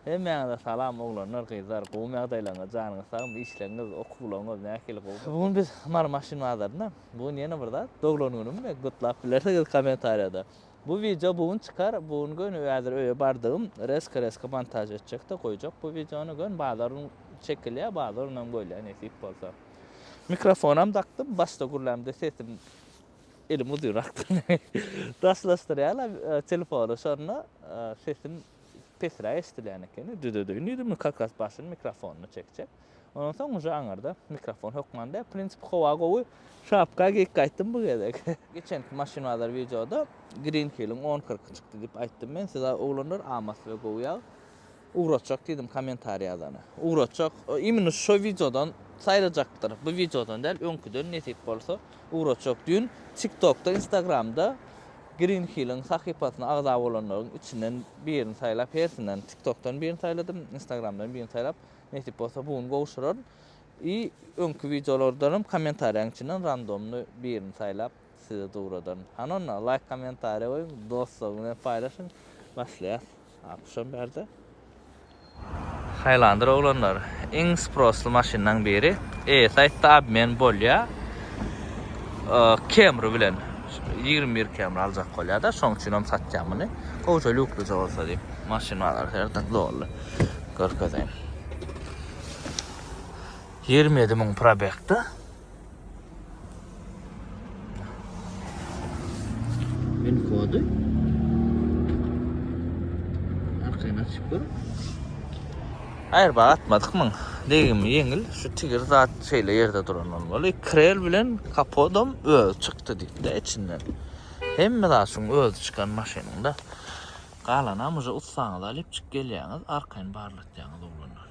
Hemmäňize salam oglanlar gyzlar gowymy ýagdaýlaryňyz janyňyz sagmy işleňiz okuwlaryňyz nähili gowy bu gün biz mary maşyn bazarynda bu gün ýene bir zat doglan günümmi gutlap bilersiňiz komentariýada bu wideo bu gün çykar bu gün göni häzir öýe bardygym reska reska montaž etjekde goýjak bu wideony göni bazar gün çekilýär bazar günam goýlar nesip bolsa mikrofonam dakdym başda gürlämde sesim elim uzynrakdyr daşlaşdyrýarlar telefony şonda sesim Pesräk eşdilýän ekeni, düzedeýin diýdim, indi kakasy başyny mikrofonyna çekjek. Ondan soň uje aňyrda mikrofon hökman däl, prinsipi howa gowy, şapka geýip gaýtdym bu gezek. Geçenki Maşyn bazar wideoda Green Hill-iň on kyrky çykdy diýip aýtdym men size oglanlar, a Moskwe gowy ýag. Ugratjak diýdim kommentariý ýazana. Ugratjak, imенно şo wideodan saýlajakdyr, bu wideodan däl, öňküden nesip bolsa. Ugrajak düýn TikTokda Instagramda Green Hilliň sahypasyna agza bolanlaryň içinden birini saýlap hersinden TikTokdan birini saýladym Instagramdan birini saýlap nesip bolsa bu gün gowşuraryn i öňki wideolardanam kommentariýaň içinden randomny birini saýlap size dowradaryn hany onda laýk kommentariýa goýuň dostlaryň bilen paýlaşyň başlaýas. Akşam bärde. Highlander oglanlar iň sprossly maşynlaň biri. E-Sight-da obmen bolýa Camry bilen. Ýigrimi bir Camry aljak bolýa-da, şoň üçin hem satýan muny. Gowja lýuklyja bolsa diýip, maşyn bazary her dak doly. Görkezeýin. Ýigrimi ýedi müň probekda. Win kody. Arkaýyn açyp dur. Aýr baý atmadyk myn. Degim ýeňil. Şu tigir zat şeýle ýerde duran bolmaly. Krel bilen kapodom öz çykdy diýdi içinden. Hemme zat şuň öz çykan maşynynda. Galanam uza utsaňyz alyp çyk gelýäňiz, arkaýyn barlatýaňyz oglanlar.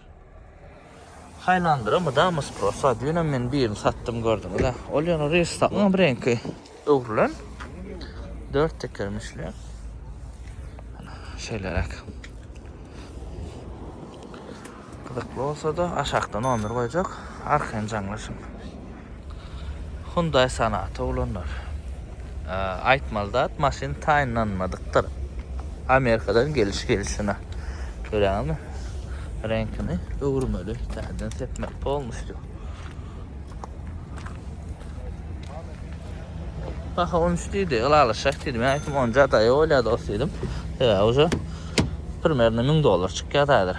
Haýlandyra mydama spros bar. Düýnem men birini satdym gördüňiz-ä. Ol ýaly Reýstagam bir reňki öwrülen. Dört tekerim işleýän. Şeýleräk. Gyzykly bolsa-da aşakdan on bir goýjak. Arkaýyn jaňlaşyň. Hyundaý Sonata ulanlar. Aýtmaly zat, maşyn taýynlanmadykdyr. Amerikadan geliş gelşine. Göräňizmi? Reňkini öwürmeli, täzeden sepmeli polnusýu. Baha 13 diýdi, ylalaşak diýdi. Men aýtdym, on jadaýy bolýar dos diýdim. Sebäbi uje primerno 1000 dollar çykýar häzir.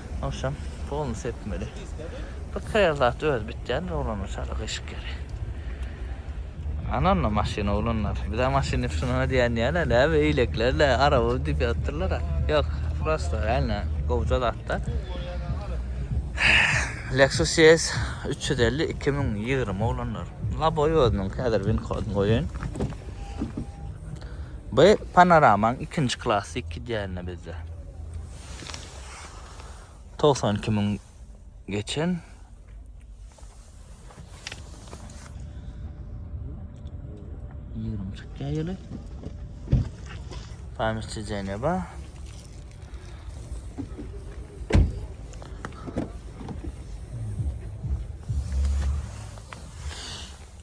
Agşam poluny sepmeli. Bir saýa zat özi bitýändir oglanlar çala gyşyk ýeri. Ananna maşyn oglanlar. Bize maşyn ýypşynyna diýen ýaly näme eýleklerle araba diýip ýatyrlar. Ýok, prosta ýaly gowja zatda. Lexus ES 350 2020 oglanlar. Laboy özüniň häzir win kodyny goýaýyn. Bu panoramaň ikinji klasy iki diýende bizde. togsan iki müň geçen. Ýigrimi çykýar ýyly. Paýmyşçy Jeneba.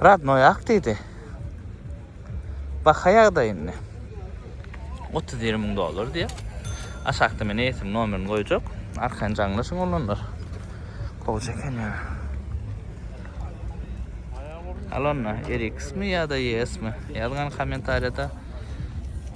Radnoy ak diýdi. Bakaýagda indi. 30-20 müň dollar diýýär. Aşakda men eýesiniň nomerini goýjak. Arkaýyn jaňlaşyň olanlar. Gowja eken ýa. Alonna, RX mi ýa-da ES mi? Ýazgan kommentariýada.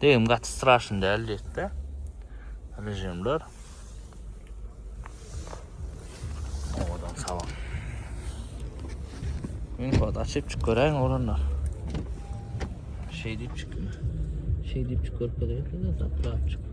Degim gaty straşyn däl diýetde. Rejimler. Owadan salam. Men kod açyp çyk göräýiň olanlar. Şey diýip çyk. Şey diýip çyk görüp göräýiň. Taplap çyk.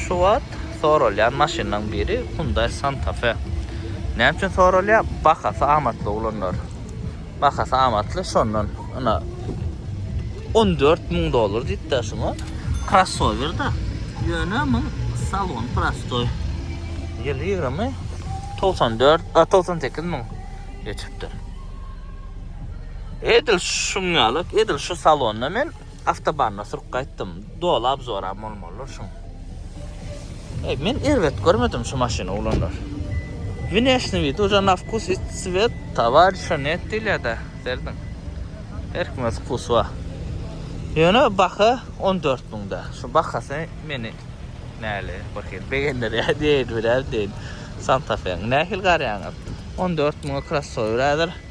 Şu wagt soralýan maşynlaryň biri Hyundai Santa Fe. Näme üçin soralýar? Bahasy amatly oglanlar. Bahasy amatly şondan ina 14 müň dollar diýip de şuňa. Krossower da. Ýöne muň salon prostoý. Ýyly 20 94 a 98 müň geçipdir. Edil şuň ýaly, edil şu salonda men Awtobanda sürüp gaýtdym. Doly abzoram bolmalydyr şuň. Eý, men erbet görmedim şu maşyny oglanlar. Wneşniý widi uza na wkus i cwet. Towarişa net diýilýä-dä, serediň. Her kime öz wkusy bar. Ýöne baha on dört müň-dä. Şu bahasy meni näli birhili begendirýär diýeýin, bilerin diýeýin. Santa Fe-niň nähili garaýaňyz? On dört müňe krossower häzir.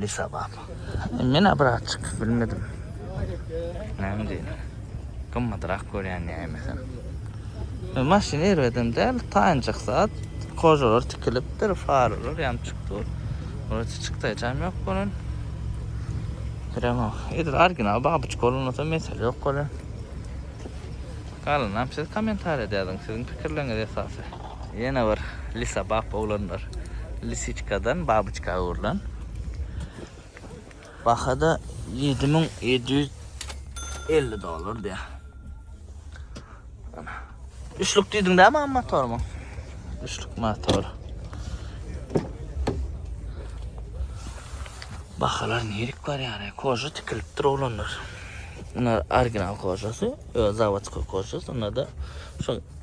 Lisa bap. Men abraçyk bilmedim. Näme diýen? Gymmadrak görýän nämesin. Maşyn erbedem däl, taýynjak zat. Kojalar tikilipdir, faralar ýanyp çykdyr. Wrote çykdaýjam ýok bolan. Prema, edil original babuçka bolanda mesele ýok bolan. Galanam siz kommentariýada ýazyň, siziň pikirleriňiz esasy. Ýene bir lisabap oglanlar. Lisiçkadan babyçka öwrülen. Baha-da ýedi müň ýedi ýüz elli dollar diýýär. Üçlük diýdiň-dä maňa motormy? Üçlük motor. Bahalar nirik barýar, koja tikilipdir oglanlar. Munuň original kojasy, zawodskoý kojasy, onda-da şu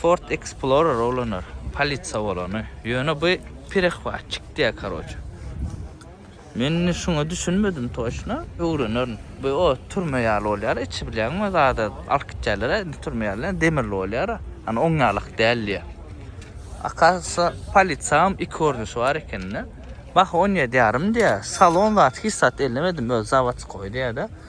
Ford Explorer olanar, polisiýa bolany. Ýöne bu perehwatçik diýýär karoçe. Men indi şuňa düşünmedim toçna, öwrenerin. Bu o türme ýaly bolýar, içi bilýäňmi zada alyp gitýärler-ä, indi türme ýaly demirli bolýar-a. Ýöne oň ýalak däl diýýär. Akasya polisiýam iki görnüşi bar eken-de. Baha on ýedi ýarym diýýär. Salon zat hiç zat ellemedim, özi zawodskoý diýýär-de.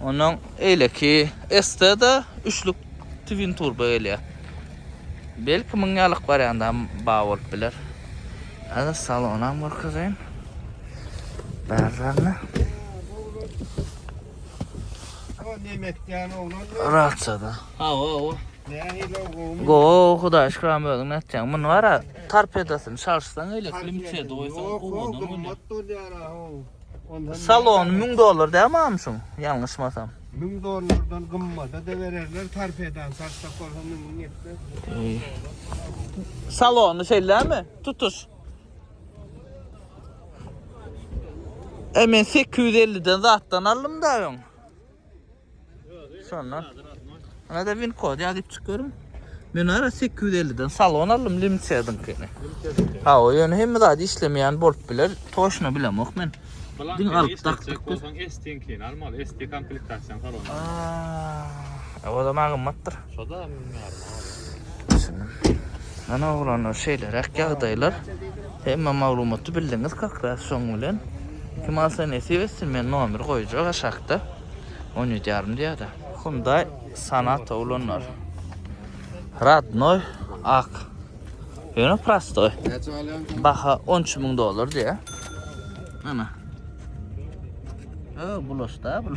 Ondan eýleki ST-da üçlük twin turbo gelýär. Belki muň ýalyk wariantda bar bolup biler. Hadi salonam görkezeyim. Bärlerine. Rahatsada. Awa awa. Go hudaý şükran özüň nätjäň. Muny bara tarpedasyny çalyşsaň eýle klimçe doýsaň owadan bolýar. Salony 1000 dollar däl mamşum, ýalňyşmasam. 1000 dollardan gymmada da bererler, sarp eden sarsak bolsa 1000 ýetmez. Salony şeýlemi? Tutuş. E men 850 den zatdan aldym da öň. Şondan. Ana da win kod ýazyp çykarym. Men ara 850-den salon aldym Limçedinkini. Ha, o ýöne hemme zat işlemeýän bolup biler. Toşna bilemok men. Diň alyp dakdyk. Bolsaň ST-inkini almaly. ST komplektasiýany salon. Aa, o da magymmatdyr. Şoda münýärin agam. Düşündim. Ana oglanlar şeýleräk ýagdaýlar. Hemme maglumaty bildiňiz kakras şoň bilen. Kim alsa nesip etsin men nomer goýjak aşakda. 17 ýarym diýýärdi. Hyundai Sonata oglanlar. Radnoy ak. Ýöne prostoy. Näçe alýan? Baha 13 müň dollar diýä. Ana. Ö, bulaşda bul.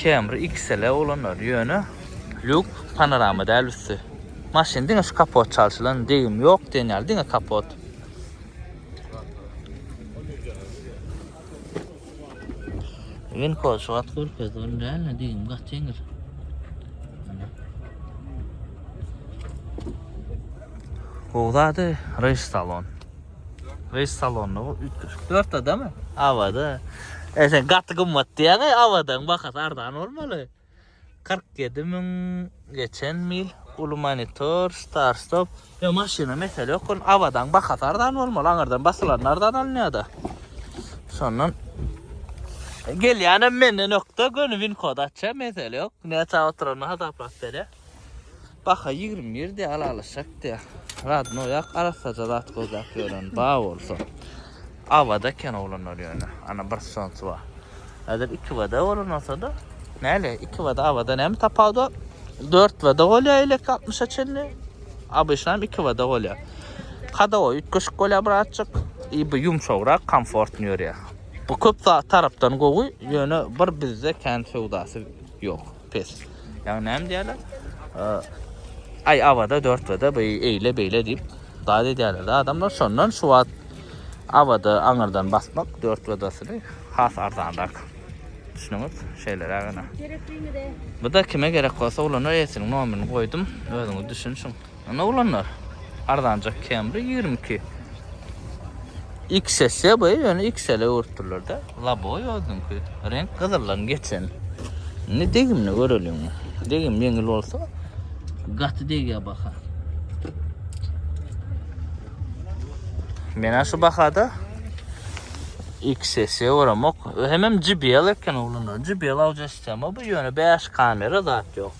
Camry XL oglanlar ýöne luk panorama däl üsti. Maşyn diňe şu kapot çalşylan degim ýok diýen ýaly diňe kapot. Win kod şu wagt görkezdi ol däl ne degim gaty ýeňil. Gowzady reýs salon. Reis salonda bu üýtgeşik. Dörtedemi? Awada. E sen gaty gymmat diýýäň-ä, Awadaň bahasy arzan bolmaly. 47 müň geçen mil, uly monitor, start stop. Ýok, maşyna mesele ýok, ony Awadaň bahasy arzan bolmaly, aňyrdan basylanda arzan alynýar-da. Şondan gelýänem menden ökde göni win kod açýar, mesele ýok. Näçä oturanyny hasaplap berýär. Baka ýigrim girdi alalyşak diýä. Radnoýak arassaja zat gözläp ýören ba bolsa. Awada eken oglanlar ýöne. Ana bir sonsi bar. Häzir iki bada bolan bolsada. Näle iki bada awada näme tapawut bar? Dört bada bolýa elek 60-a çenli. Abyşna hem iki bada bolýa. Kadawa üýtgeşik bolýa birazjyk. I bu ýumşagrak, komfortny ýörýä. Bu köp tarapdan gowy, ýöne bir bizde kän söwdasy ýok. pes. Ýagny näme diýýärler? Aý awada 4 wada bu eýle beýle diýip zat edýärler da adamlar şondan şu wagt awada aňyrdan basmak 4 wadasyny has arzanrak. Düşünüňiz? Şeýleräk ene. Bu da kime gerek bolsa ulanar esiniň nomerini goýdum. Özüňiz düşünşiň. Ine oglanlar. Arzanjak Camry ýigrimi iki. XS ýa bu ýöne XL öwürtdürlerde. Laboy özüňki. Reňk gyzyldan geçen. Indi degimini göreliň. Degim ýeňil bolsa gaty degýär baha. Mena şu bahada XS oramok. Hemem JBL eken oglanlar. JBL audio sistema bu ýöne 5 kamera zat ýok.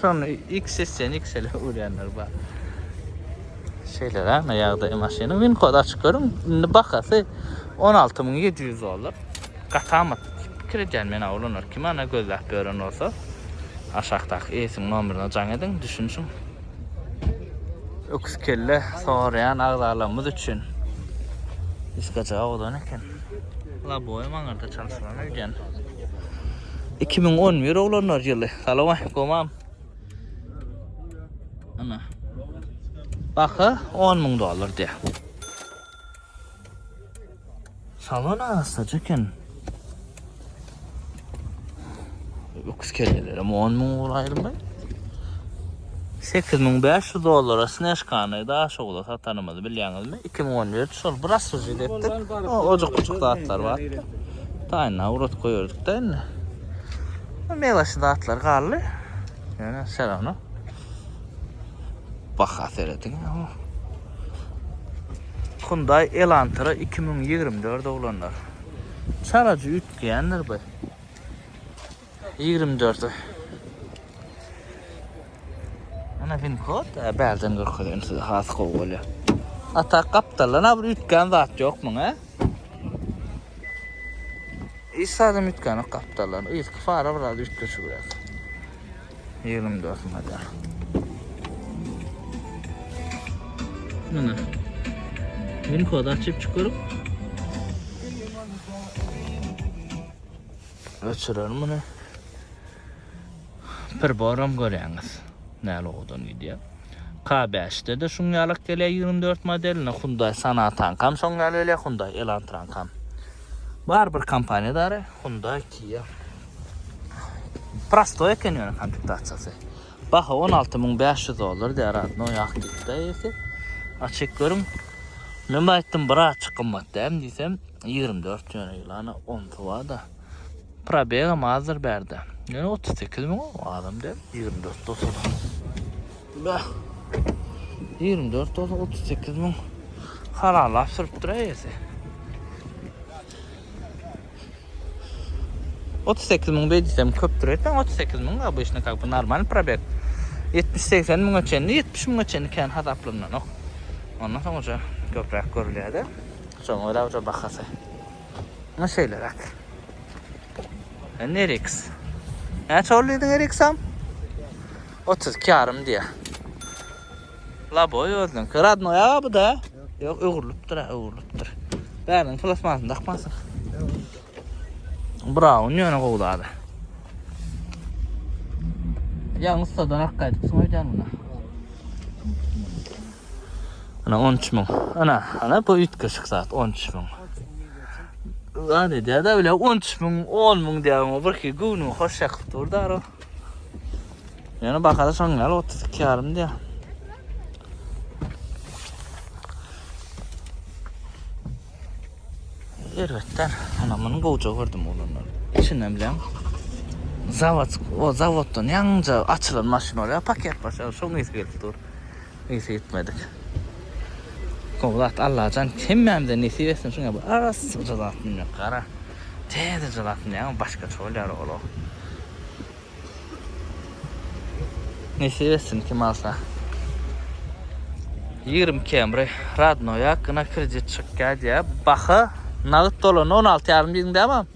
Şony XS-den XL-e öwrenler bar. Şeýle-de ne ýagdaý maşynyň win kody açyk görüň. Indi bahasy 16700 dollar. Gatamat pikir edýän men awlanlar kim ana gözläp ýören bolsa aşakdaky ES-iň nomerine jaň ediň düşünişiň. Öküz kelle soraýan agzalarymyz üçin. Diskaja awdan eken. Laboy maňarda çalşylan öýden. 2011 oglanlar ýyly. Salaway, gomam. Ana. Baha 10 müň dollar diýär. Salon asaja eken. Öküz kelleleri 10 müň ugur aýrylmaý. 8500 dollara sneşkany da şowda satanymyzy bilýäňizmi? 2014 şol bir asuji etdik. O ojak-ojak zatlar bar. Taýynda urat goýardyk da indi. Mewaşy zatlar galdy. Ýöne şerawno. Baha serediň. Hyundai Elantra 2024 oglanlar. Çalajy üýtgeýändir bu. 24-e. Ana fin kod bärden görkezýän size has gowy bolýar. Ata gapdaldan abr üýtgän zat ýok muň he? Hiç zat üýtgän ýok gapdaldan. Yzky fara biraz üýtgeşik biraz. Ýygrym dört müň eder. Muna. Min kod açyp çykyryp. Öçürelim bunu. Bir boram görýäňiz. Näle odan gidýär. K5'de de şun ýalak gelýär 24 modeline Hyundai Sonata kam şon ýaly gelýär Hyundai Elantra kam. Bar bir kompaniýadary Hyundai Kia. Prostoý eken ýöne komplektasyýasy. Baha on alty müň bäş ýüz dollar diýýär adno ýakdikde eýesi. Açyk görüň. Men bu aýtdym bir açyk gymmat däm diýsem ýigrimi dört ýöne ýylana onsy bar-da. Probegam azdyr bärde. Ýöne otuz sekiz müň azam däl ýigrimi dört bolsa-da. Bäh. Ýigrimi dört bolsa otuz sekiz müň halallap sürüpdir eýesi. Otuz sekiz müň beýdisem köpdür etmeň otuz sekiz müň obýşna kak bu normalny probeg ýetmiş segsen müňe çenli ýetmiş müňe çenli kän hasaplananok ondan soň uja köpräk görülýärde şoň görä uja bahasy muňa şeýleräk indi rx näçe boldy diýdiň rx-am otuz iki ýarym diýýä. Laboy özüniňki. Radnoý aga bu-da. Ýok, öwrülipdir, ha, öwrülipdir. Bäriň plasmasyny dakmansyň. Braun ýöne gowy zada. Ýaň ussadan ak gaýdypsyň öýdýän buna. Ana 13 müň. Ana, ana bu üýtgeşik zat 13 müň. Zat edýär-de bile 13 müň, 10 müň diýýär, birki göwnümi hoş ýakyp dur, daro. Ýöne bahada şoň ýaly 32 ýarym diýýär. Erbetler. Ana muny gowja gördüm olanlar. İçinden bilen zavod, o zavoddan ýaňja açylan maşyn bar ya paket başa şoň ýesi gelip dur. Ysy gitmedik. Gowzat Allajan hemmämize nesip etsin şuňa bir arassa jylap bilmek gara täze jylap bilýäňä başgaça bolýar oglo. Nesip etsin kim alsa. Ýigrimi kemri radnoýa gyna kredit çykýa diýýä baha nagyt dolanda on alty ýarym diýdiň dämam.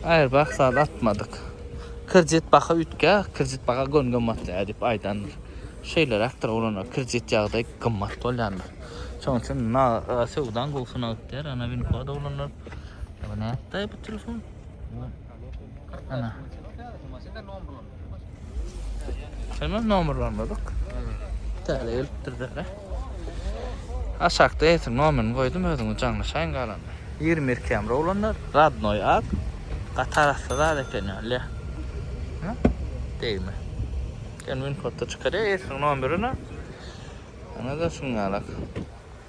Aýr bak sal atmadyk. Kredit baka ütkä, kredit baka gön gymmatly edip aýdandyr. Şeýle rakdyr olana kredit ýagdaý gymmat bolýandyr. Şoň üçin na söwdan gowsuna ütdär, ana win kod olanlar. Bu nätdi bu telefon? Ana. Şeýle nomerlanmadyk. Täze gelipdir däne. Aşakda eýsem nomerini goýdum özüňiz jaňlaşaýyň galany. 22 kamera olanlar, radnoy ak. Gatar asla zat eken ýaly. Ha? Degme. Sen win kodda çykarýar, eýsem nomerini. Ana da şuň ýalak.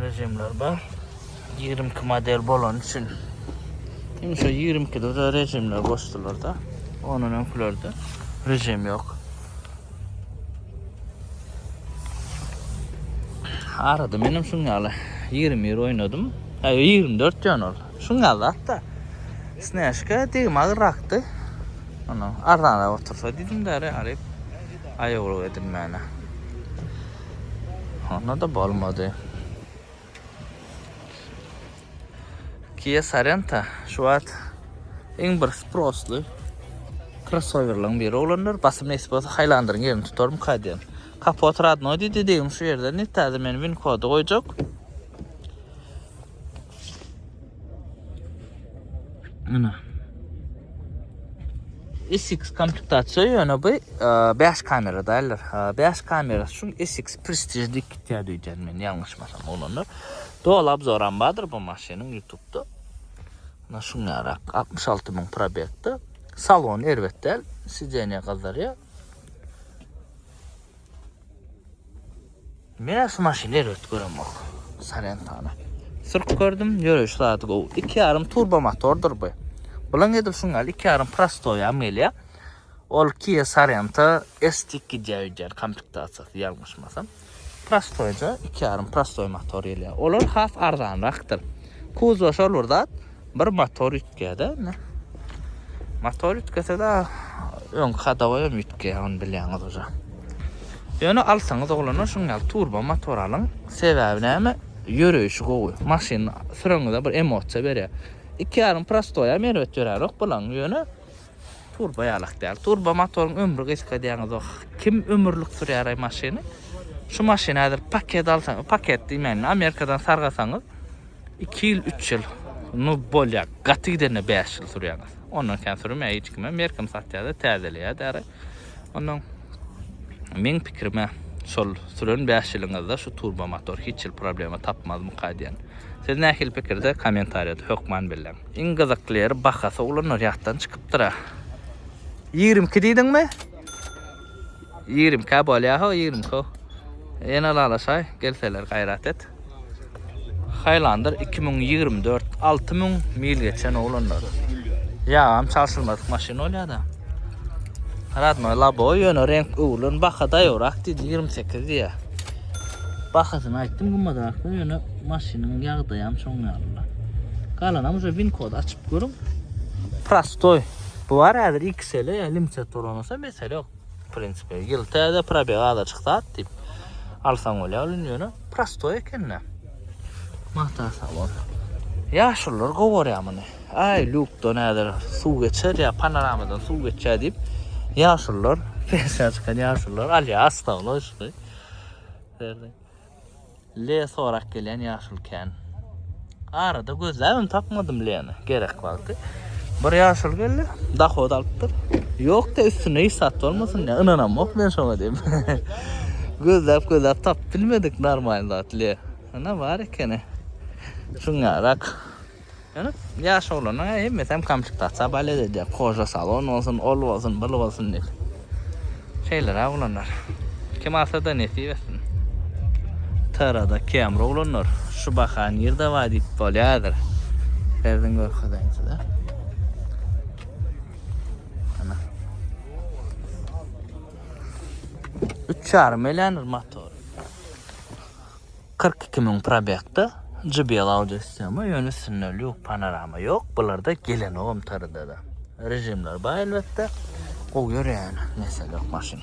Rejimler bar. 22 model bolan üçin hem şu 22 de rejimler goşdular da. Onun öňkülerde rejim yok. Arada benim şun ýaly 20 ýer oýnadym. Ha 24 diýen ol. Şun ýaly hatda. Snäşka degim agrakdy. Ana arzana otursa diýdim däre alyp aýawlyk edinmäne. Onda-da bolmady. Kia Sorento şu wagt iň bir sprossly krossowerlaryň biri oglanlar. Basym nesip bolsa Highlander-iň ýerini tutarmyka diýen. Kapot radnoý diýdi, degim şu ýerden diýdi, täze men win-kody goýjak. Ana. SX komplektasiýa ýöne bu 5 e, kamera däller. 5 e, kamera şu SX Prestige diýip gitýär diýýän men ýalňyşmasam olanlar. Dol abzoram bardyr bu maşynyň YouTube-da. Ana şuň ýarak 66 ming probekde. Salon erbet däl, sidzeniýa gazarýa. Menä şu maşyny erbet göremok. Salentana. Sürk gördüm, ýöreýiş zady gowy. 2,5 turbo motordyr bu. Bulan edil şuň ýaly 2,5 prostoýam gelýär. Ol Kia Sorento S2 diýýär komplektasýasy ýalňyşmasam. Prostoýja 2,5 prostoý motor gelýär. Olar has arzanrakdyr. Kuzow şol bir zat. Bir motor üýtgäde indi. Motor üýtgesede öň kadawa hem üýtgeýär, ony bilýäňiz oja. Ýöne alsaňyz oglanlar şuň ýaly turbo motor alyň. Sebäbi näme? Ýöreýşi gowy. Maşyn süreňizde bir emosiýa berýär. Iki ýarym prostoýam erbet ýörärok bulaň, ýöne Turba ýalak däl. Turba motoryň ömri gysga diýýäňizok. Kim ömürlik sürýäraý maşyny? Şu maşyny häzir paket alsaň, paket diýmäýin, Amerikadan sargasaňyz, 2 ýyl, 3 ýyl, nu bolýar. Gaty gidende 5 ýyl sürýäňiz. Ondan kän sürmeýär hiç kime. Merkim satýar-da, täzeleýär-däraý. Ondan meň pikirime şol süren bäş ýylyňyzda şu turbo motor hiç ýyl problema tapmazmyka diýen. Siz nähili pikirde kommentariýada hökman belläň. Iň gyzykly ýeri bahasy ulanlar ýatdan çykypdyra. Ýigrimi iki diýdiňmi? Ýigrimi ikä bolýa ho ýigrimi iki ho. Ýene ylalaşaý gelseler gaýrat et. Highlander 2024 6000 mil geçen oglanlar. Ýagam çalşylmadyk maşyn bolýar-da. Radnoý labo ýöne renk öwrülen baha daýabrak diýdi 28 diýýär. Bahasyny aýtdym gymmadrakda ýöne maşynyň ýagdaýy hem şoň ýaly. Galanam şu win kod açyp görüň. Prostoý. Bu bar häzir XL-e limiter toranasa mesele ýok. W prinsipi ýyl täze probeg azajyk zat diýip alsaň bolýar ol indi ýöne prostoý ekende. Magta sag bol. Ýaşulylar gowy görýär muny. Aý lukdan häzir suw geçer ýa panoramadan suw geçýär diýip ýaşulylar pensiýa çykan ýaşulylar alýar astagyn oýşuny. Le sorak gelen yaşul kän. Arada gözläbim tapmadym Leni. Gerek wagty. Bir yaşul geldi. Dahod alypdyr. Yok da üstüne hiç sat bolmasyn ya. Inanam yok men şoňa diyip. gözläp gözläp tap bilmedik normal zat Le. Ana var ekeni. Şuňarak. Ýöne ýaş oglanlaň hemmesem komplektatsiýa balet edýär. Koja salon bolsun, ol bolsun, bul bolsun diýip. Şeýleräk oglanlar. Kim alsa-da nesip etsin. TR-da Camry oglanlar şu baha nirde bar diýip bolýar häzir. Serdiň görkezeýin size. Ana. 3,5 million motor. Kyrk iki müň probegda JBL audio sistema ýöne üstünde lýuk panorama ýok bularda gelenogam trdda režimler bar elbetde gowy ýörýän mesele ýok maşyn.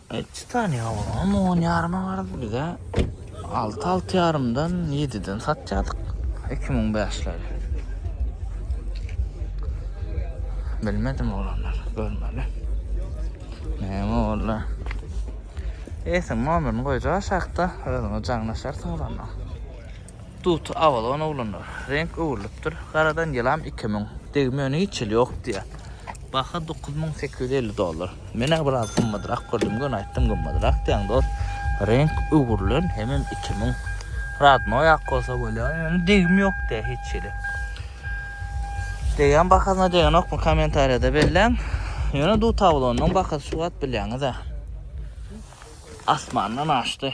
Etçi tany olam on ýaryma gardy bize alty alty ýarymdan ýediden satýadyk iki müň bäşleri bilmedim olanlar görmeli näme boldy Eýsem nomerini goýja aşakda özüňe jaňlaşarsyň olandan. Dut abadan oglanlar. Reňk öwrülipdir. Garadan ýylam iki müň. Degme öne hiç el ýok diýýä. Baha dokuz müň sekiz ýüz elli dollar. Men-ä biraz gymmadrak gördüm, göni aýtdym gymmadrak diýen dost. Reňk öwrülen hemem iki müň. Radnoýak bolsa bolýa. Ýöne degim ýok diýýä hiç hili. Degen bahasyna degenokmy kommentariýada belläň. Ýöne dut abalonynyň bahasy şu wagt bilýäňiz-ä. Asmandan aşdy.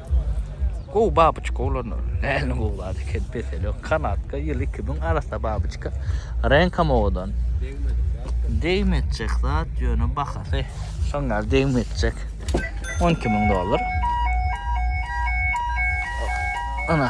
Gowy babyçka olanlar. Nähili gowy zat eken peseli ýok. Kanadka ýyl 2000 arassa babyçka. Reňkam owadan. Degmejek zat ýöne bahasy şoň ýaly degmejek. 12 müň dollar. Ana.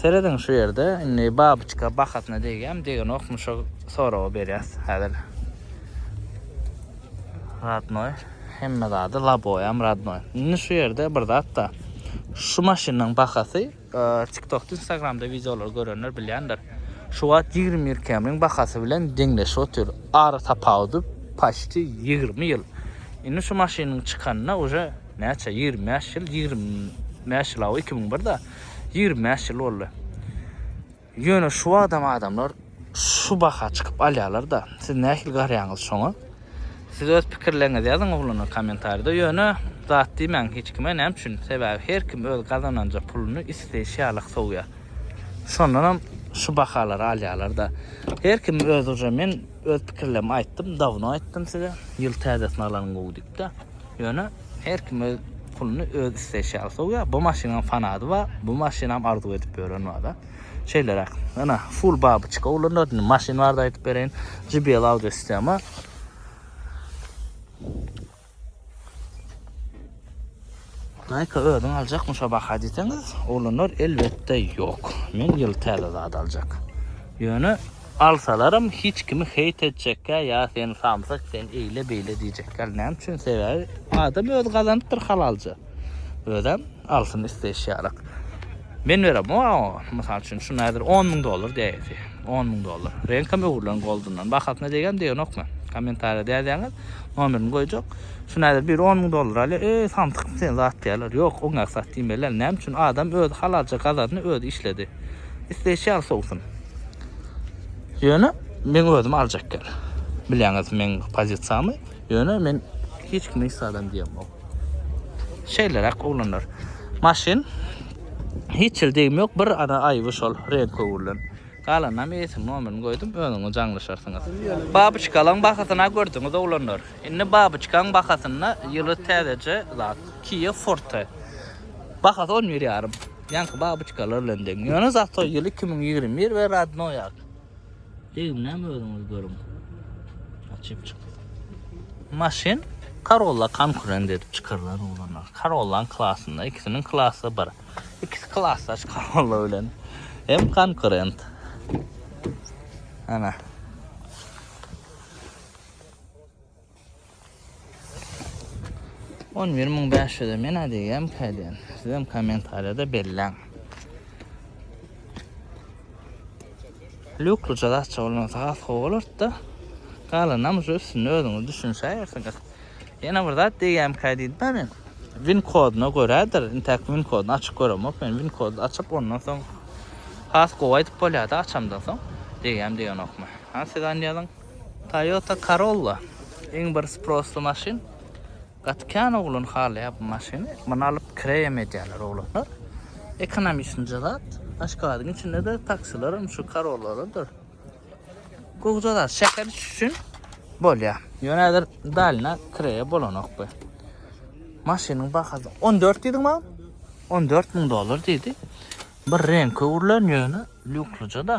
Serediň şu ýerde indi babyçka bahasyna degýämi degenokmy şo soragy berýäs häzir. Radnoý hemme zady laboýam radnoý. Indi şu ýerde bir zatda şu maşynyň bahasy TikTokda Instagramda wideolary görenler bilýändir. Şu wagt ýigrimi bir kemriň bahasy bilen deňleşip otyr. Ara tapawudy paçti ýigrimi ýyl. Indi şu maşynyň çykanyna uje näçe ýigrimi bäş ýyl ýigrimi bäş ýyl aw iki müň birde. Ýigrimi bäş ýyl boldy. Ýöne şu wagtam adamlar şu baha çykyp alýarlar-da. Siz nähili garaýaňyz şoňa? Siz öz pikirleriňizi ýazyň oglana kommentariýada. Ýöne zat diýmäň hiç kime, näme üçin? Sebäbi her kim öz gazananja puluny isleýşi ýaly sowýar. Şondanam şu bahalara alýarlar-da. Her kim öz uje men Öz pikirlerimi aýtdym, dawno aýtdym size, ýyl täzesini alan gowy diýipde. Ýöne her kim öz puluny öz isleýşi ýaly sowýar. Bu maşynyň fanady bar, bu maşynam arzuw edip ýören bar-da. Şeýleräk. Ynha, full babyçka ulanýar. Indi maşyn barada aýdyp bereýin. JBL audio sistema. Nike özüň aljakmy şo baha diýseňiz, oglanlar elbetde ýok. Men ýyl täze zat aljak. Ýöne alsalaram hiç kimi heýt etjekkä ýa sen samsyk, sen eýle beýle diýjekkä näme üçin sebäbi adam öz gazanypdyr halalja. Özem alsyn isleýşi ýarak. Men berem o aňa. Mysal üçin şuny häzir 10 müň dollar diýäýse. 10 müň dollar. Reňkam öwrülen goldundan. Bahasyna degem degenok men. Kommentariýa däýseňiz nomerini goýjak. Şuny häzir biri 10 müň dollar alýar. Eý samsyk sen zat diýerler. Ýok oňa sat diýmeliler. Näme üçin adam özi halalja gazandy özi işledi. Isleýşi ýaly sowsun. Ýöne men özüm aljak ýer. Bilýäňiz meň pozisiýamy. Ýöne men hiç kime hiç zadam diýemok. Şeýleräk oglanlar. Maşyn hiç ýeri degimi ýok, bir ara aýby şol reňk öwrülen. Galanynam eýesiniň nomerini goýdum, özüňiz aňlaşarsyňyz. Babyçkalaň bahasyna gördüňiz oglanlar. Indi babyçkaň bahasynda ýyly täzeje zat, Kia Forte. Bahasy on bir ýarym. Ýaňky babyçkalar bilen deň. Ýöne zato ýyl iki müň ýigrimi bir we rodnoýak. Degimden özüňiz görüň. Açyp çyk. Maşyn Corolla konkurent edip çykarylan oglanlar. Corolla klasynda, ikisiniň klasy bir. İkisi klasdaş Corolla bilen. Hem konkurent. Ana. On bir müň bäş ýüze men diýýän käden. Sizem kommentariýada belläň. Lükli jazatça bolmasa has gowy bolardy-da. Galanam şu üstünde özüňiz düşünişäýersiňiz. Ýene bir zat diýýän kädidä men. Win kodyna görädir. Intäk win kodyny açyp göremok men. Win kody açyp ondan soň has gowy aýdyp bolýar-da açamdan soň. Diýýän diýenokmy? Ha siz anýalyň. Toyota Corolla iň bir sprossly maşyn. Gaty kän oglan halaýar bu maşyny. Muny alyp kireýem edýärler oglanlar. Ekonomiçnje zat. Aşgabadyň içinde-de taksilerim şu Corollalarydyr. Gowja zat. Şäher içi üçin bolýar. Ýöne häzir dalyna kireýe bolanok bu. Maşynyň bahasy 14 diýdiň maňa? 14 müň dollar diýdi. Bir reňki öwrülen ýöne lýukslyja-da.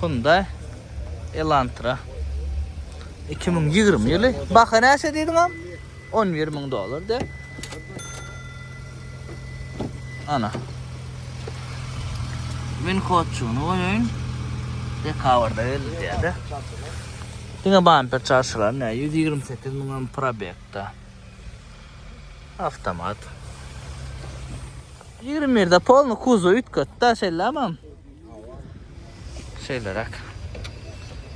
Hyundai Elantra 2020 ýyly. Baha näçe diýdim am? 11 müň dollar de. Ana. Win kodçuny goýaýyn. Dekabrda geldi diýdi. Diňe bamper çarşylar ne? 128 müň probekda. Avtomat. Ýigrimi birde polny kuzow üýtget da şeýlämem. Şeýleräk.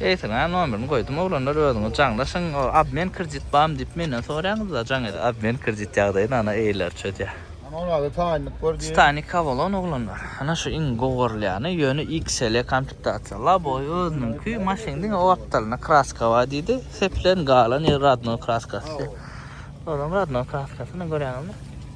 Eýsene nomerini goýdum oglanlar özüňiz jaňlaşyň o obmen kredit bamy diýip menden soraýaňyzda jaň edip obmen kredit ýagdaýyny ana eýeler çözýä. Ana onada taýynlyk bar diýip. Titanik Avalon oglanlar. Ana şu iň gowy görülýäni ýöne XL komplektasyýa. Laboý özüniňki maşyn diňe o gapdalynda kraska bar diýdi. Sepilen galan ýeri radno kraskasy. Olam radno kraskasy ine görýäňizmi.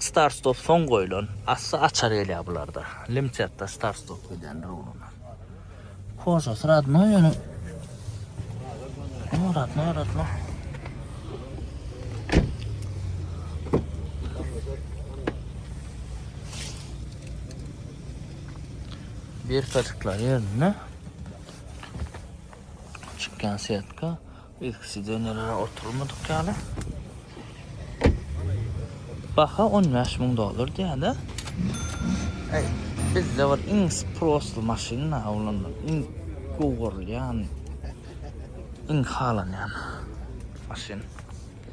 Start-stop soň goýlan, asty açar gelýär bularda. Limtetda start-stop gidýändir ugruna. Kožasy radnoý ýöne. O radnoý radnoý. Bir katıklar yerine çıkan setka Ilki sidenelere oturmadyk ýaly. Baha 15 müň dollar diýýär-de. Eý, bizde bir iň prosty maşyn awlandy. Iň gowurylýan, iň halanýan maşyn.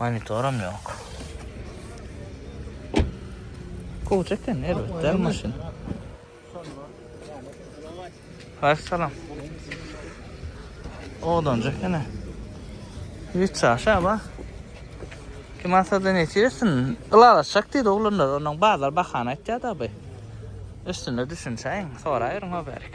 Monitoram ýok. Gowja eken erbet däl maşyn. Haýyş salam. Odanjy ekene. Hiç şaşa bak. Kim alsa da neçesin? Ilalaşak diýdi oglanlar. Onuň bazar bahana aýtýar da bu. Üstünde düşünşäýiň. Soraýaryň o berik.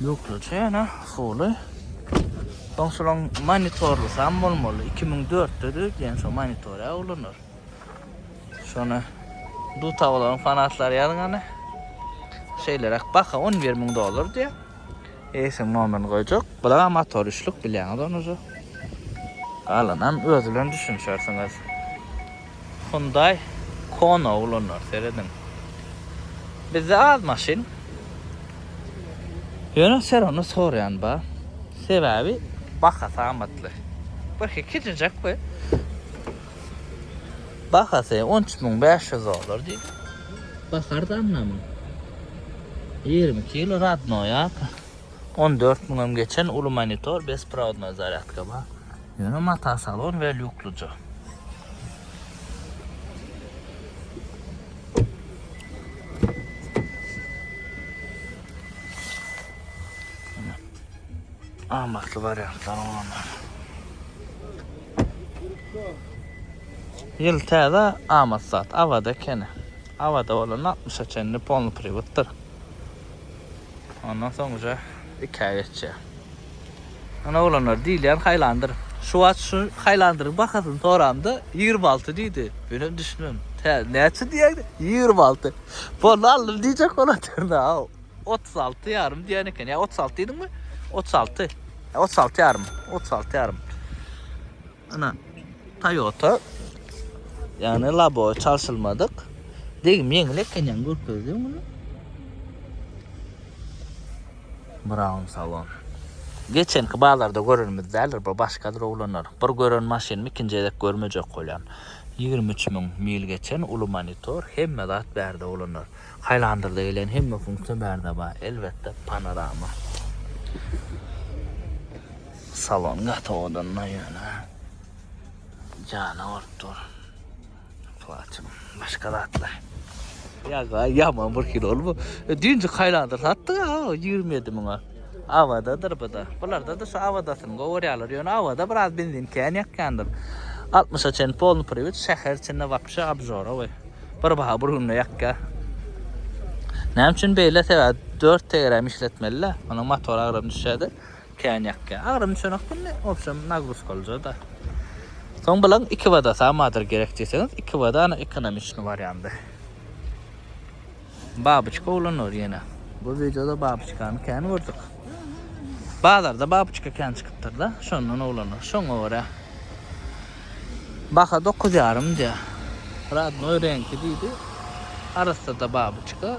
Ýurtluça ýene usuly. Soň şolaň monitorlusam bolmaly. 2004-de döwdýän şo monitorä ulanar. Şony Dutawlaryň fanatlary ýazgany. Şeýleräk baha 11 müň dollar diýýär. Eýsem nomerini goýjak. Bulara motor üçlük bilýäňiz ony. Galanam öz bilen düşünişersiňiz. Hyundai Kona oglanlar serediň. Bizde az maşyn. Ýöne serony soraýan bar. Sebäbi bahasy amatly. Birki kiçijek we bahasy on üç müň bäş ýüz dollar diýip. Baky arzanlamyň. Ýigrimi iki ýyl radnoýa on dört müňem geçen uly monitor besprovodnoý zarýadka bar. Ýöne mata salon we lýukluja. Amatly wariantlar olanlar. Ýyl täze amat zat. Awada ekeni. Awada bolan 60-a çenli polny priwotdyr. Ondan soň уже 2-ä geçýär. Ana oglanlar diýilýän haýlandyr. Şu wagt şu haýlandyryň bahasyny soramda, ýigrimi alty diýdi. Menem düşünmän, Tä, näçe diýýäň? Ýigrimi alty. Boldy, aldym diýjek bolatyryn-aw. Otuz alty ýarym diýen eken. Ýa otuz alty diýdiňmi? Otuz alty. Otuz alty ýarym. Otuz alty ýarym. Ana Toyota yani labo çalşylmadyk. Degim ýeňil eken ýaňy görkezdim muny. Brown salon. Geçenki bazarda görenimiz däldir, bu başgadyr oglanlar. Bir gören maşynymy ikinji gezek görmejek bolýan. 23 müň mil geçen uly monitor, hemme zat bärde oglanlar. Highlander-da gelen hemme funksiýa bärde bar. Elbetde panorama. Salon gaty owadanla ýöne jana bolup dur. Plaçym, başga zatlar. Ýa-ga ýaman bir kilo bu. E, Düýnji kaýlandyr satdyk ha, 27 müňe. Awadadyr bu da. Bularda-da şu awadasyny gowy görýärler. Ýöne awada biraz benzin kän ýakýandyr. 60-a çenli polny priwet şäher içinde wapşe obžorowy. Bir baha bir günde ýakýar. Näme üçin beýle sebäp 4 tegeräm işletmeli-le. Onuň motor agram düşýärdi. Kän ýakýar. Agram çöňek günde wobşem nagruzka olja-da. Soň bilaň iki wada samadyr gerek diýseňiz, iki wada ana ekonomiçni wariandy. Babyçka ulanylýar ýene. Bu wideoda babyçkany kän gördük. Bazarda babyçka kän çykypdyr-da, şondan ulanylýar. Şoňa görä baha dokuz ýarym diýýär. Radnoý reňki diýdi. Arassa-da babyçka.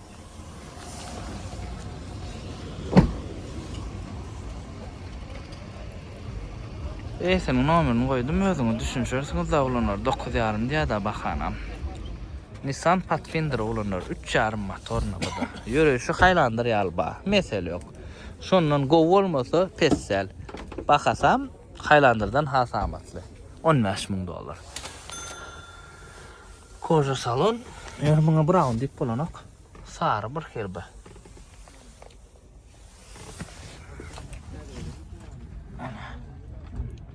Eýesiniň nomerini goýdum, özüňiz düşünişersiňiz da uglanlar, dokuz ýarym diýýär-de bahanam. Nissan Pathfinder uglanlar, üç ýarym motorny bu da. Ýöreýşi haýlandyr ýaly bar, mesele ýok. Şondan gowy bolmasa, pes däl. Bahasam haýlandyrdan has amatly, on bäş müň dollar. Koža salon. Ýöne muňa brown diýip bolanok. Sary bir herbe.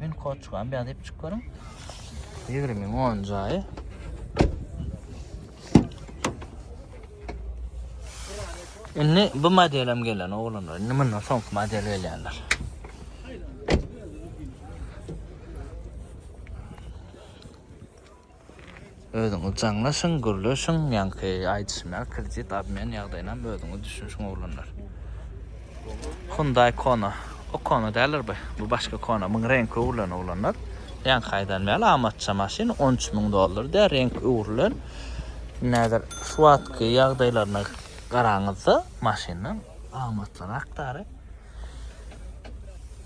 Men kod çykan bir adyp çık görün. 20 10 jaýy. Indi bu modelim gelen oğlanlar. Indi bundan soňky model gelýänler. Özüňiz jaňlaşyň, gürleşiň, ýaňky aýdyşymýaly kredit obmen ýagdaýynam özüňiz düşünşiň oglanlar. Hyundai Kona, o Kona däldir bu, bu başga Kona, muň reňki öwrülen oglanlar. Ýaňky aýdanymy ýaly amatça maşyn, on üç müň dollar diýýär, reňki öwrülen. Indi häzir şu wagtky ýagdaýlaryna garaňyzda maşyndan amatlyrakdary.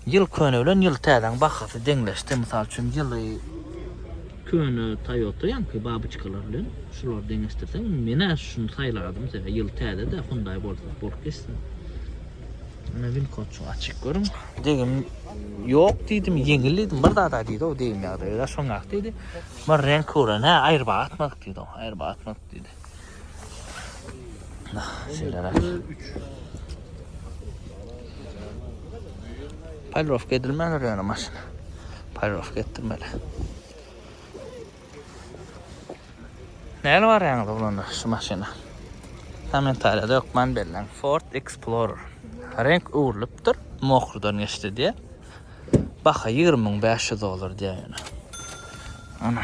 Ýyl köne bilen ýyl täzäň bahasy deňleşdi. Mysal üçin ýyly köne Toyota ýaňky babyçkalar bilen şulary deňeşdirseň, menä şuny saýlardym sebäbi ýyl täze-dä Hyundai bolsa bolup geçsin. Ana win kodçygy açyk görüň. Degim ýok diýdim, ýeňil diýdim, bir zada diýdi-ow degim ýagdaýda şoňak diýdi. Bir reňk gören, hä aýrybaga atmadyk diýdi-ow, aýrybaga atmadyk diýdi. Paýlawka edilmäner ýöne maşyn. Paýlawka etdirmeli. Näle barýaňyz oglanlar şu maşyna? Kommentariýada ýokman belläň. Ford Explorer. Renk öwrülipdir. Mokurdan geçdi diýe. Baha 20500 dollar diýe ýöne. Ana.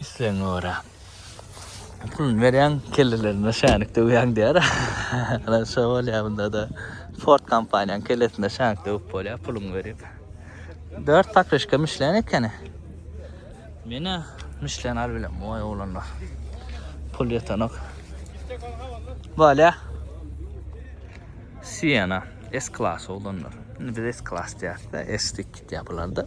Islegiňe görä. Puluny berýäň, kellelerine şänik döwýäň diýýär. Ana şo bolýar bunda-da. Ford kompaniýanyň kellesine şänik döwüp bolýar, puluňy berip. Dört pakryşka Michelin ekeni. Menä Michelin alyp bilen, oý oglanlar. Pul ýetenok. Bolýar. Siena S-klas oglanlar. Indi biz S-klas diýýäris-de, S-lik gitýär bularda.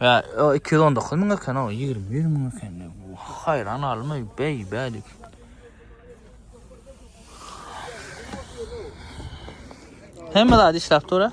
Ya o 219 mü eken o 21 mü eken. Hayran alma bey bey. Hem de hadi işlap dur ha.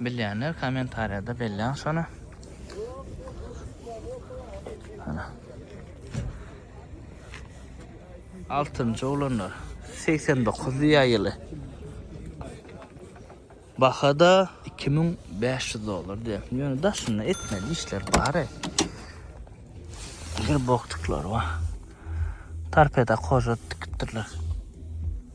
Bilýänler kommentariýada belläň şony. Ana. Altynjy oglanlar. 89 ýa ýyly. Bahada 2500 dollar diýär. Ýöne daşynda etmeli işler bar. Gir boktuklar bar. Tarpeda koža tikipdirler.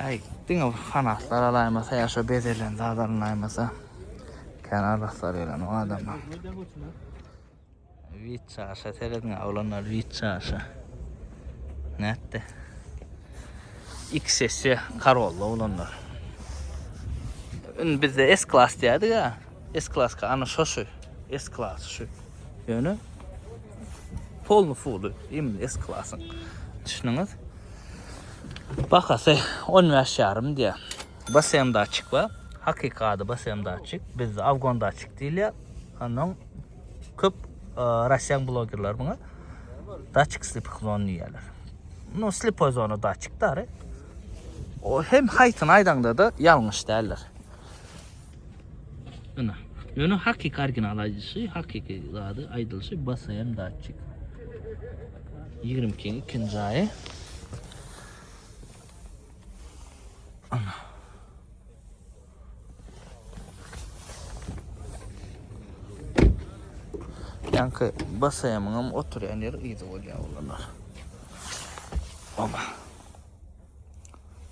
Äý, diňe bir fanatlar alaýmasa ýa şo bezelen zat alynaýmasa. Kän araslar gelen o adama. Wit çaşa serediň oglanlar wit çaşa. Nätdi? İki sesi karolda oglanlar. Ün bizde S klas diýdik ha. S klas ka ana şo şu. S klas şu. Ýöne polny fuly, imin S klasyn. Düşündüňiz? Bahasy on bäş ýarym diýýär. Basem datçik bar. Hakyky ady basem datçik. Bizde avgon datçik diýilýär. Ondan köp e, rasiýan blogerler muňa datçik slipik zon diýýärler. No slipoy zona datçik dary. O hem haýsyny aýdaňda da ýalňyş däldir. Ina. Ýöne hakyky original aýdyşy, hakyky zady aýdylyşy BSM datçik. 22-niň ikinji aýy. Ana. Ýanky BSM-iň hem oturýan ýeri ýygy bolýar olar. Oba.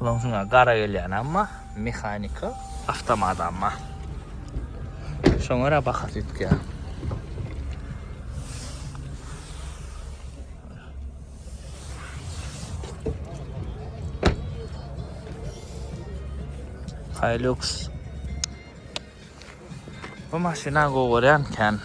Ulan şuna gara gelýän amma mehanika avtomada amma. Şoňa ra bahasy ýitýär. Hilux Bu maşyna gowy görýän kän.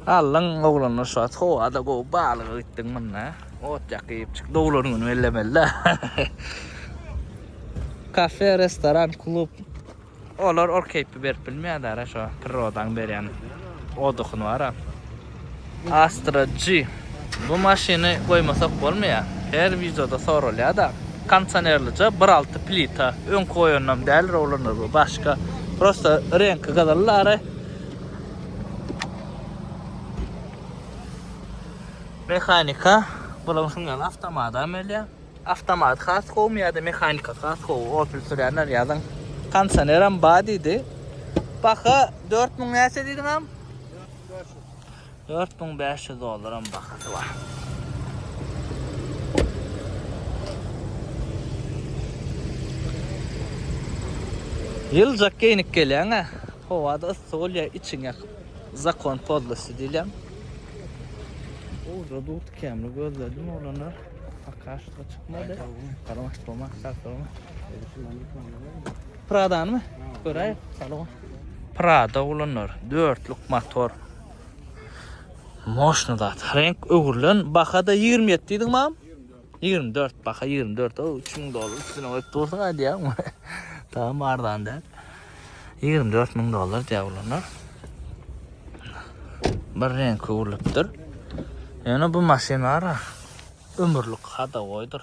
Allyň oglanlar şu wagt howada gowy balyga gitdiň munda. Ot ýakyp çyk doglan güni bellemeli. Kafe, restoran, klub. Olar ol keýpi berip bilmeýär dara şu prirodaň berýän odukyny bara. Astra G. Bu maşyny goýmasak bolmaýar. Her wideoda soralýar-da. Kondisionerlija bir alty plita. Öňki goýanam däl rowlaner bu başga. Prosta reňki gyzyl lary. Mehanika bulan şundan awtomata melýär. Awtomat has gowmy ýa-da mehanika has gowy? Opel sürýänler ýazyň. Kondisioner hem bar diýdi. Baha 4000 näçe diýdiňem? 4500 dollaram bahasy bar. Ýyljak geýnik gelýäňä, howada yssy bolýar, içiň ýakyp. Zakon pozlosy diýilýär. Owda dur tikämli gözledim oglana. Akaşda çykmady. Garamak bolmak şart bolma. Pradanymy? Göräýip, salon. Prado ulandylar. Dörtlük motor. Moşny zat. Renk öwrülen. Baha-da ýigrimi ýedi diýdiň mam? Ýigrimi dört. Baha ýigrimi dört. O, üç müň dollar üstüne goýup dursuň aýdýaňmy? Tamam arzan däl. Ýigrimi dört müň dollar diýýär ulanlar. Bir renk öwrülipdir. Ýöne bu maşynlara ömürlik hada goýdur.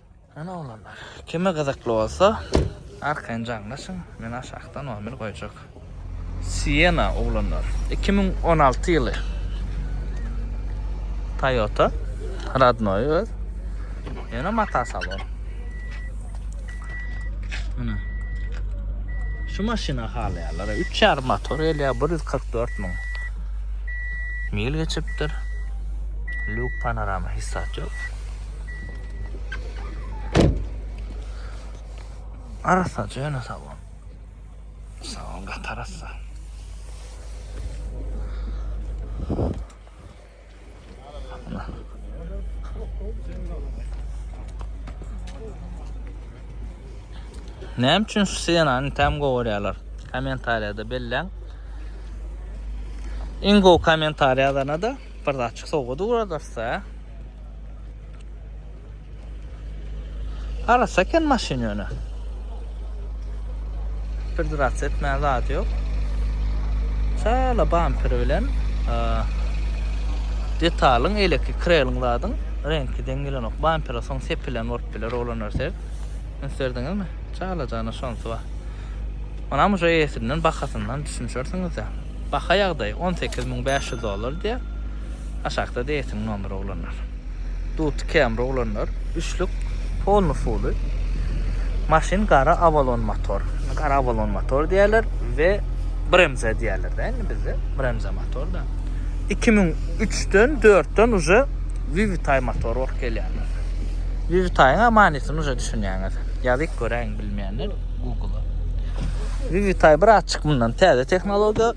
Ana oglanlar, kime gyzykly bolsa, arkaýyn jaňlaşyň, men aşakda nomer goýjak. Siena oglanlar, iki müň on alty ýyly. Toyota, radnoy öz. Ýöne mata salon. Ana. Şu maşyny halaýarlar. 3,5 motor gelýär, 144 müň. Mil geçipdir. Luk panorama hissat ýok. Arassa cana sağ ol. Sağ ol gat arassa. Näme üçin şu senany tam gowurýarlar? Kommentariýada belläň. Iň gowy kommentariýalarna da Bir zatjyk sowgat ugradarys-da. Arassa eken maşyn ýöne. Bir zat etmäge zady ýok. Çala bamperi bilen detalyň eleki kreliň zadyň reňki deň gelenok. Bampere soň sepilen bolup biler oglan örter. Ünslerdiňizmi? Çala jana şonsy bar. Onam şu eýesinden bahasyndan düşünşersiňiz-de. Baha ýagdaýy on sekiz müň bäş ýüz dollar diýýär. Aşakda Deýsiň nomeri oglanlar. Duty Camry oglanlar. Üçlük polny fuly. Maşyn gara Avalon motor. Gara Avalon motor diýerler we Bremza diýerler de indi bizde. Bremza motor da. 2003-den 4-den uje Vivitay motor bolup gelýär. Vivitaýyň amanysyny uje düşünýäňiz. Ýazyp göräýiň. Bilmeyenler Google'a. Vivitay bir açık bundan täze tehnologiýa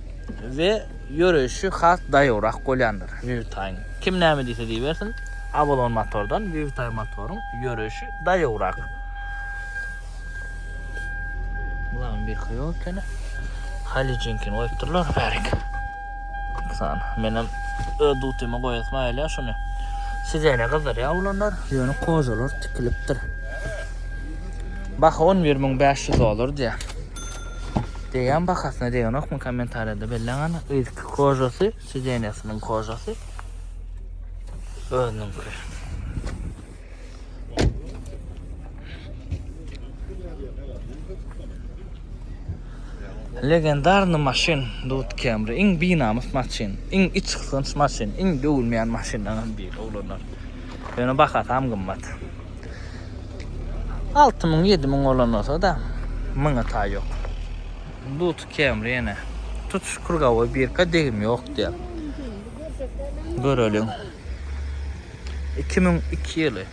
we ýöreýşi has daýawrak bolýandyr Vivitaýyň. Kim näme diýse diýibersin, Avalon motordan Vivitay motoryň ýöreýşi daýawrak. Bulan bir köýük ekeni. Halicinkin goýupdyrlar bärik. Misal, menem öz dutyma goýasym aýylýar şuny. Sizene gyzdyrýar olanlar, ýöne kozalar tikilipdir. Baha on bir müň bäş ýüz dollar diýýär. Degen bahasyna degenokmy kommentariýada belläň ana. Yzky kozasy, sizenýasynyň kozasy özüniňki. Legendarny maşyn Dut Camry iň binamys maşyn, iň içgysgynç maşyn, iň döwülmeýän maşynlaryň biri oglanlar. Ýöne bahasy hem gymmat. 6000-7000 bolan bolsa da, myňa taý ýok. Dut Camry ýene tutuş krugowy birka degim ýok diýýär. Göreliň. Iki müň iki ýyly.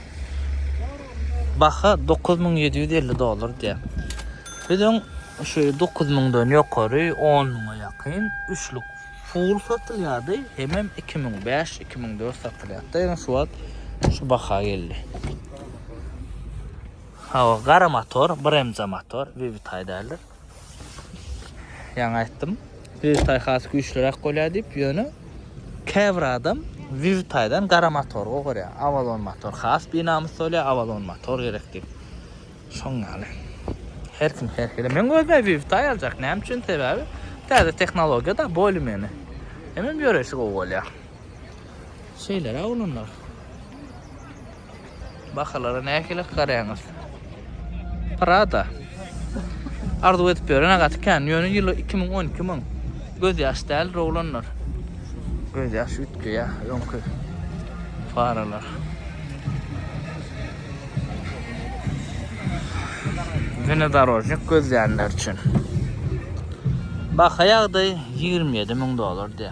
Baha dokuz müň ýedi ýüz elli dollar diýýär. Biz öň şu dokuz müňden ýokary, on müňe ýakyn üçlük full satylýardy. Hemem iki müň bäş, iki müň dört satylýardy. Ýöne şu wagt şu baha geldi. Hawa, gara motor, BRMC motor, Vivitaý däldir. Ýaňy aýtdym. Wirtaý has güýçliräk bolýar diýip, ýöne käbir adam Wirtaýdan gara motor gorýar. Avalon motor has binamys bolýar, Avalon motor gerek diýip. Şoň ýaly. Her kim her hili. Men özüm Wirtaý aljak. Näme üçin? Sebäbi täze tehnologiýa da boýly meni. Hemem ýöresi gowy bolýar. Şeýleräk olanlar. Bahalara nähili garaýaňyz? Prada. Arzuw edip ýörene gaty kän. Ýöne ýyly 2012 müň. Göz ýaş däl oglanlar. Göz ýaş ütki ýa öňki faralar. Yine darojnik gözleyenler için. Baka yağdı 27 bin dolar diye.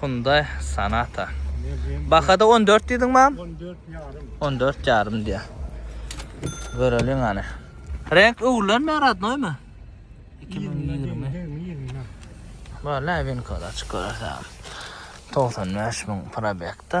Hyundai Sonata. Bahada on dört diýdiňmi agam? On dört ýarym. On dört ýarym diýýär. Göreliň hany. Reňk öwrülenmi, rodnoýmy? Iki müň ýigrimi. Wala, winkoda açyk görersiň. Togsan bäş müň probekde.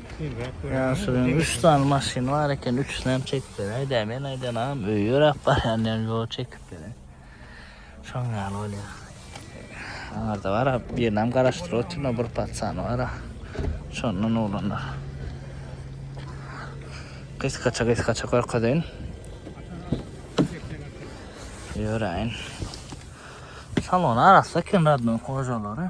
Ýaşulyň üç sany maşyny bar eken, üçüsini hem çekip beräý dä. Men aýdan agam öýe ýöräp barýan diýen, ýok çekip beräý. Şoň ýaly bolýar. Aňarda bar, birini hem garaşdyryp otyryn, bir patsany bar. Şondan oglanlar. Gysgaça gysgaça görkezeýin. Ýöräýin. Salon arassa eken radnyň hojalary.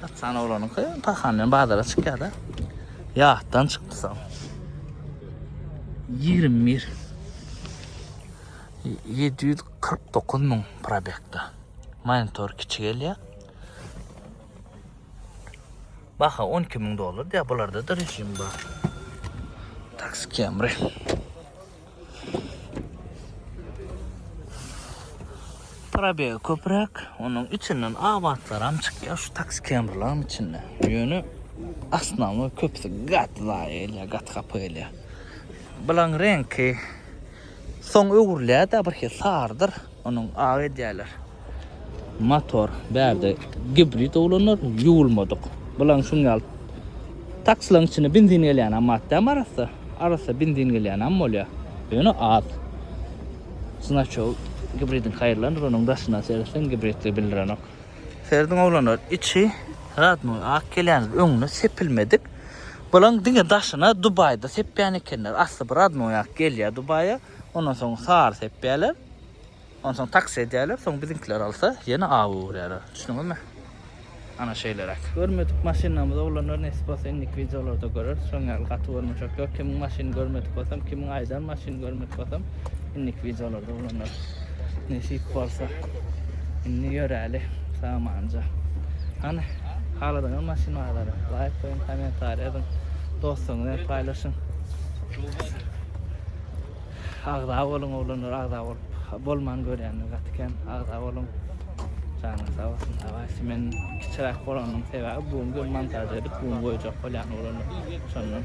Gatsan oglanyňky pahan bilen bazara çykýar-da. Ýatdan çykdy soň. 21 749 müň probekda. Monitor kiçi gelýär. Baha 12 müň dollar diýär, bularda da rejim bar. Taksi Camry. Probeg köpräk, onuň içinden abatlaram çykýar şu taksi kemrlaryň içinde. Ýöne asnamy köpüsi gaty zaýa gelýär, gaty hapa gelýär. Bulaň reňki soň öwrülýär-de birhili sarydyr, onuň ak edýärler. Motor bärde gibrid oglanlar ýuwulmadyk. Bulaň şuň ýaly taksilaň içine benzin gelýänam matdäm arassa. Arassa benzin gelýänam bolýar. Ýöne az. Znaço gibridin haýyrlandyr onuň daşyna seretseň gibridli bildirenok. Serediň oglanlar içi radnoý ak gelýändir öňüne sepilmedik. Bulaň diňe daşyna dubaýda sepýän ekenler. Asly bir radnoý ak gelýär dubaýa. Ondan soň sary sepýärler. Onsoň taksi edýärler, soň biziňkiler alsa, ýene aw öwürýärler. Düşdüňizmi? Ana şeýleräk. Görmedik maşynlarymyzy oglanlar nesip bolsa indiki wideolarda göreris. Şoň ýaly gaty görmejek ýok. Kimiň maşyny görmedik bolsam, kimiň aýdan maşyny görmedik bolsam, indiki wideolarda oglanlar nesip bolsa. Indi ýöräli samanja. Hany, haladaňyz maşyn bazary? Laýk goýuň, kommentariýa ýazyň, dostlaryňyz bilen paýlaşyň. Agza boluň oglanlar agza bolup bolman görýänler gaty kem agza boluň janyň sag bolsun dawaysi men kiçiräk bolanyň sebäbi bu gün montaj edip bu gün goýjak bolýan oglanlar şondan.